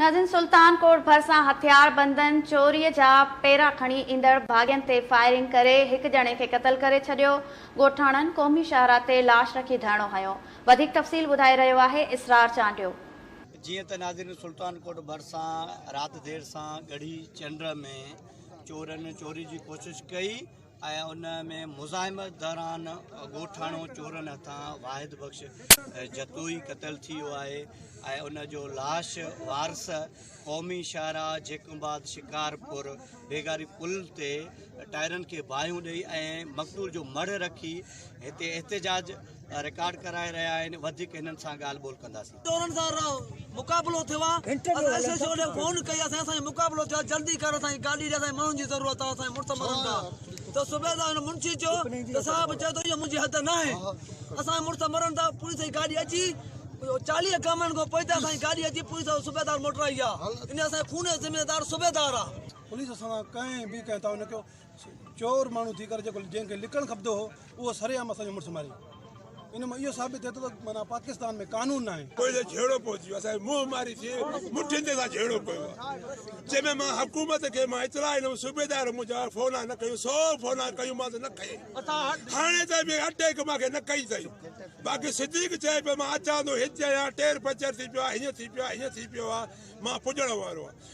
ناظرين سلطان ڪوٽ ڀرسان هٿياربندن چوري جا پيرا کڻي ايندڙ باغين تي فائرنگ ڪري هڪ ڄڻي کي قتل ڪري ڇڏيو، ڳوٺاڻن قومي شاهراهه تي لاش رکي ڌرڻو هنيو، وڌيڪ تفصيل ٻڌائي رهيو آهي اسرار چانڊيو. جيئن ته ناظرين سلطان ڪوٽ ڀرسان رات دير سان ڳڙهي چنڊ ۾ چورن چوري جي ڪوشش ڪئي ۽ ان ۾ مزاحمت دوران ڳوٺاڻو چورن هٿان واحد بخش جتوئي قتل ٿي ويو آهي ۽ ان جو لاش وارث قومي شاهراهه جيڪبآد شڪارپور بيگاري پل تي ٽائرن کي باهيون ڏئي ۽ مقتول جو مڙهه رکي هتي احتجاج رڪارڊ ڪرائي رهيا آهن وڌيڪ هنن سان ڳالهه ٻولهه ڪنداسين ٽولن سان مقابلو ٿيو آ اسان ايس ايس او ڏي فون ڪئي آ سائين اسان جو مقابلو ٿيو آ جلدي ڪر اسان کي گاڏي ڏي اسان کي ماڻهن جي ضرورت آ اسان جا مڙس مرن ٿا ته صوبيدار هن منشي چيو ته صاحب چئي ٿو اهو منهنجي حد نه آهي اسان جا مڙس مرن ٿا پوليس جي گاڏي اچي چاليهه گامن کان پوئتي اسان جي گاڏي اچي پوليس صوبيدار موٽرائي آ ان اسان جو خوني ذميوار صوبيدار آ پوليس اسان سان ڪنهن به ڪنهن تعاون نه ڪيو چور ماڻهو ٿي ڪري جيڪو جنهن کي لڪڻ کپندو هو اهو سري عام اسان جو مڙس ماري ان مان اهو ثابت ٿئي ٿو ته معنيٰ پاڪستان ۾ قانون ناهي. پوء جو جهيڙو پوء ٿي ويو اسان کي منهن ماري ٿي مٺين تي اسان جهيڙو ڪيو آهي جنهن ۾ مان حڪومت کي مان اطلاع ڏنم صوبيدار منهنجا فونا نه کنيو سو فونا ڪيومانس نه کنئي هاڻي تائين به اٽيڪ مان کي نه ڪئي اٿئي باقي صديق چئي پيو مان اچان ٿو هتي آهيان ٽير پنچر ٿي پيو آهي هيئن ٿي پيو آهي هيئن ٿي پيو آهي مان پڄڻ وارو آهيان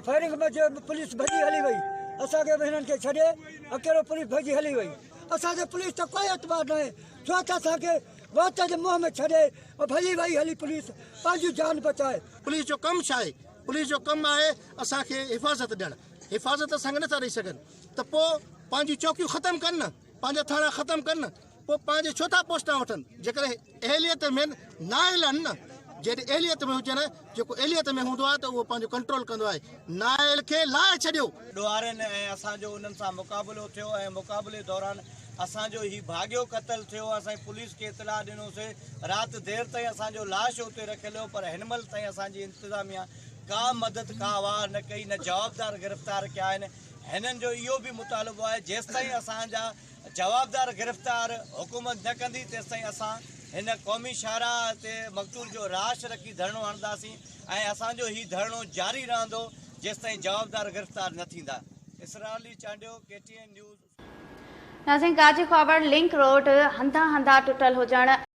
فائرنگ موجب پوليس ڀڄي هلي وئي اسان کي به هنن کي ڇڏي اڪيلو پوليس ڀڄي هلي وئي اسان کي پوليس تي ڪوئي اعتبار ناهي ڇو ته اسان کي وات جي منهن ۾ ڇڏي ڀڄي وئي هلي پوليس پنهنجي جان بچائي پوليس جو ڪم ڇا آهي پوليس جو ڪم آهي اسان کي حفاظت ڏيڻ حفاظت اسان کي نٿا ڏئي سگهن ته پوء پنهنجون چوڪيون ختم ڪن نه پنهنجا ٿانڙا ختم ڪن پوء پنهنجي ڇو ٿا پوسٽان وٺن جيڪڏهن اهليت ۾ نااهل آهن نه جيڏي اهليت ۾ هجن جيڪو اهليت ۾ هوندو آهي ته اهو پنهنجو ڪنٽرول ڪندو آهي نااهل کي لاهي ڇڏيو. ڏوهارين ۽ اسان جو انهن سان مقابلو ٿيو ۽ مقابلي دوران اسان جو هي ڀاڳيو قتل ٿيو اسين پوليس کي اطلاع ڏنوسي رات دير تائين اسان جو لاش اتي رکيل هو پر هنمهل تائين اسان جي انتظاميا ڪا مدد ڪا واهه نه ڪئي نه جوابدار گرفتار ڪيا آهن هنن جو اهو به مطالبو آهي جيستائين اسان جا جوابدار گرفتار حڪومت نه ڪندي تيستائين اسان هن قومي شاهراهه تي مقتول جو راش رکي ڌرڻو هڻنداسين ۽ اسان جو هي ڌرڻو جاري رهندو جيستائين جوابدار گرفتار نه ٿيندا. Israr Ali Chandio, K T N news, اسمبي. ناظرين ڪاڇي خوابڙ لنڪ روڊ هنڌان هنڌان ٽٽل هجڻ.